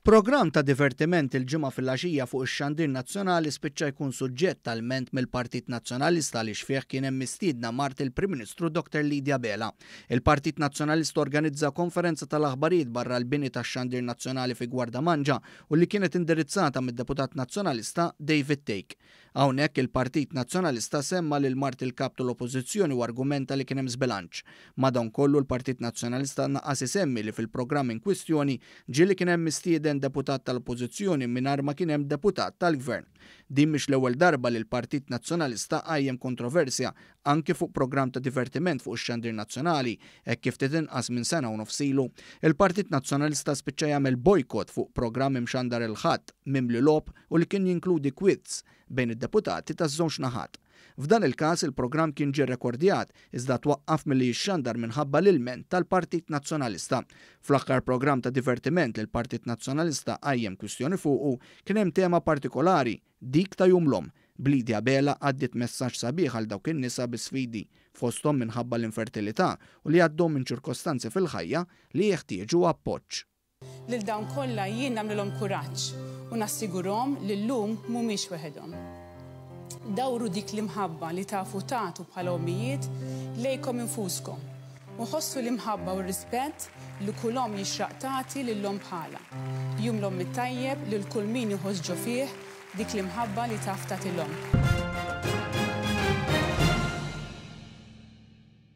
Programm ta' divertiment il-Ġimgħa filgħaxija fuq ix-Xandir Nazzjonali spiċċa jkun suġġett ta' lment mill-Partit Nazzjonalista għaliex fih kien hemm mistiedna mart il-Prim Ministru Dr. Lydie Abela. Il-Partit Nazzjonalista organizza konferenza tal-aħbarijiet barra l-bini tax-Xandir Nazzjonali fi Gwardamanġa u li kienet indirizzata mid-Deputat Nazzjonalista David Thake. Hawnhekk il-Partit Nazzjonalista semma lil mart il-Kap tal-Oppożizzjoni u argumenta li kien hemm żbilanċ. Madankollu l-Partit Nazzjonalista naqqas isemmi li fil-programm inkwistjoni ġie li kien hemm mistieden deputat tal-Oppożizzjoni mingħajr ma kien hemm deputat tal-Gvern. Din mhix l-ewwel darba li l-Partit Nazzjonalista qajjem kontroversja anki fuq programm ta' divertiment fuq ix-xandir nazzjonali, hekk kif ftit inqas minn sena u nofs ilu, il-Partit Nazzjonalista spiċċa jagħmel bojkott fuq programm imxandar il-Ħadd, mimli logħob u li kien jinkludi kwiz bejn id-deputati taż-żewġ naħat. F'dan il-każ, il-programm kien ġie rekordjat, iżda twaqqaf milli jixxandar minħabba l-ilment tal-Partit Nazzjonalista. Fl-aħħar programm ta' divertiment li l-Partit Nazzjonalista qajjem kwistjoni fuqu, kien hemm tema partikolari, Dik ta' Jum l-Omm, b'lidi Abela għaddiet messaġġ sabiħ għal dawk in-nisa bi sfidi fosthom minħabba l-infertilità u li għaddew minn ċirkostanzi fil-ħajja li jeħtieġu appoġġ. Lil dawn kollha jien nagħmlilhom kuraġġ u nassigurhom li llum mhumiex weħedhom. Dawru dik l-imħabba li tafu tagħtu bħala ommijiet lejkom infuskom U ħossu l-imħabba u r-rispett li kull omm jixraq tagħti lil omm bħalha. Jum l-Omm it-tajjeb lil kull min iħoss ġo fih dik l-imħabba li taf tagħti l-omm.